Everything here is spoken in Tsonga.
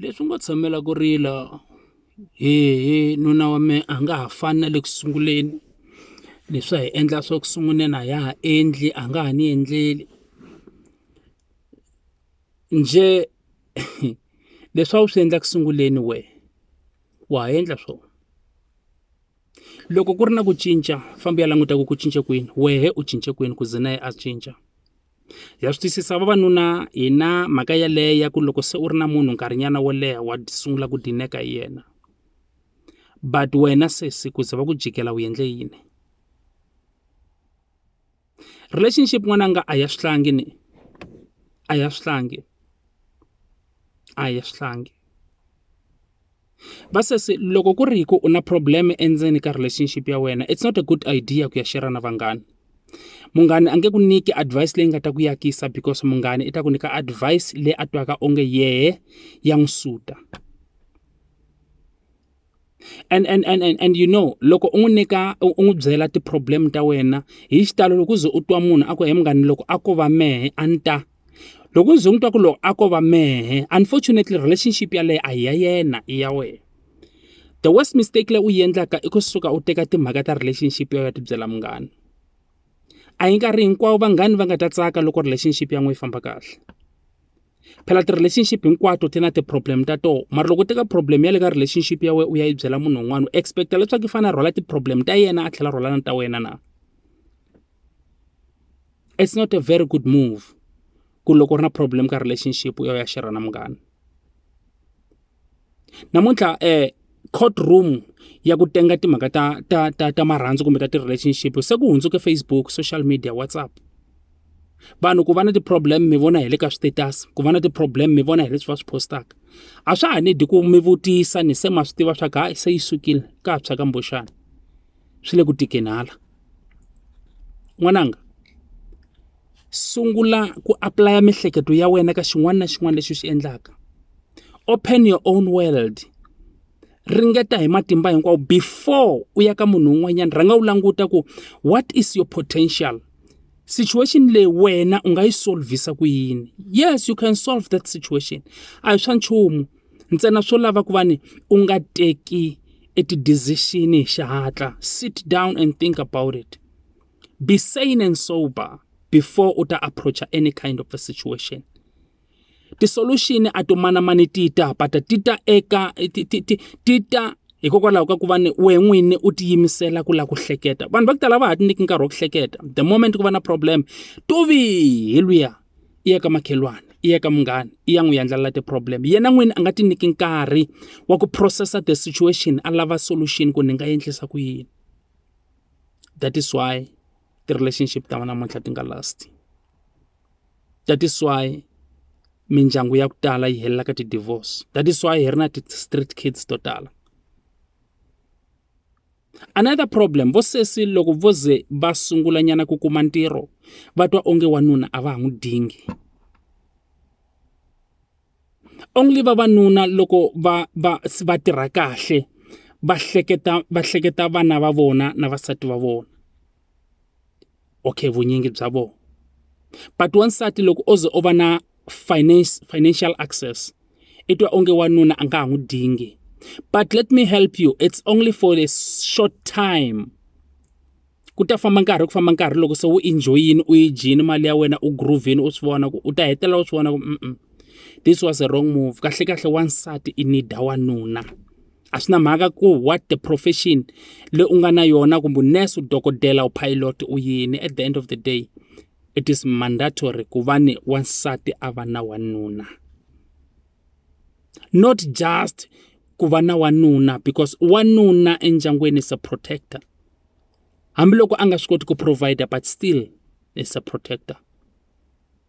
Leswi ngo tshamela ku rila hehe nuna wa me a nga ha fani na le ku sunguleni leswi a hi endla swa ku sunguleni a ya ha endli a nga ha ni endleli njhe leswi a wu swi endla ku sunguleni we wa ha endla swo loko ku ri na ku cinca fambi ya languta ku ku cince kwini wehe u cince kwini ku ze na ye a cinca. ya swi twisisa vavanuna hi na mhaka yaleyo ya ku loko se u ri na munhu nkarhinyana wo leha wa sungula ku dineka hi yena but wena sesi ku ze va ku jikela u endle yini relationship n'wananga a ya swihlangi ni a ya swihlangi a ya swihlangi. Va sesi loko ku ri hi ku u na problem endzeni ka relationship ya wena it's not a good idea ku ya share na vanghana. Munghana a nge ku nyiki advice leyi nga ta ku yakisa because munghana i ta ku nyika advice leyi a twaka onge yehe ya n'wi suta. And and and and and you know loko u n'wi nyika u u n'wi byela ti-problem ta wena hi xitalo loko u ze u twa munhu a ku he munghana loko a ko va mehe a ni ta. loko u ze u n'wi twa ku loko a ko va mehe unfortunately relationship yaleyo a hi ya yena i ya wena the worse mistake leyi u yi endlaka i kusuka u teka timhaka ta relationship ya wena u ya ti byela munghana a hi nkarhi hinkwawo vanghana va nga ta tsaka loko relationship ya n'wina yi famba kahle phela ti-relationship hinkwato ti na ti-problem ta tona mara loko u teka problem ya le ka relationship ya wena u ya yi byela munhu un'wana u expect-a leswaku i fanele a rhwala ti-problem ta yena a tlhela a rhwala na ta wena na. it's not a very good move ku loko u ri na problem ka relationship u ya u ya share-ra na munghana namuntlha um court room ya ku tenga timhaka ta ta ta ta marhandzu kumbe ta ti-relationship se ku hundzuke Facebook social media WhatsApp vanhu ku va na ti-problem mi vona hi le ka swi-status ku va na ti-problem mi vona hi leswi va swi postaka a swa ha nidi ku mi vutisa ni se ma swi tiva swa ku hayi se yi sukile ka ha tshwa ka mboxana swi le ku tikeni hala n'wananga sungula ku apulaya miehleketo ya wena ka xin'wana na xin'wana lexi u xi endlaka open your own world ringeta hi matimba hinkwawo before u ya ka munhu un'wanyana rhanga u languta ku what is your potential situation leyi wena u nga yi solve-isa ku yini yes you can solve that situation a hi swa nchumu ntsena swo lava ku va ni u nga teki e ti-decision hi xihatla sit down and think about it be sane and sober before u ta approach-a any kind of a situation ti-solution a to manamani ti ta ba ta ti ta eka ti ti ti ti ta hikokwalaho ka ku va ni wehe n'wini u tiyimisela ku lava ku hleketa vanhu va ku tala va ha ti nyiki nkarhi wa ku hleketa the moment ku va na problem to vihi luya i ya ka makhelwani i ya ka munghana i ya n'wi yendlala ti-problem yena n'wini a nga ti nyiki nkarhi wa ku process-a the situation a lava solution ku ni nga endlisa ku yini that is why ti-relationship ta namuntlha ti nga last that is why mindyangu ya ku tala yi helela ka ti-divorce that is why hi ri na ti-street kids to tala. Another problem, vo sesi loko vo ze va sungula nyana ku kuma ntirho va twa onge wanuna a va ha n'wi dingi. Only vavanuna loko va va va tirha kahle va hleketa va hleketa vana va vona na vasati va vona. okay vunyingi bya vona but wansati loko o ze o va na finance financial access i twa onge wanuna a nga ha n'wi dingi but let me help you it's only for a short time ku ta famba nkarhi ku famba nkarhi loko se u enjoyini u yi dyini mali ya wena u groovini u swi vona ku u ta hetelela u swi vona ku this was a wrong move kahle kahle wansati i need wanuna a swi na mhaka ku what the profession leyi u nga na yona kumbe nurse u dokodela u pilot u yini at the end of the day it is mandatory ku va ni wansati a va na wanuna not just ku va na wanuna because wanuna endyangwini is a protector hambiloko a nga swi koti ku provider but still is a protector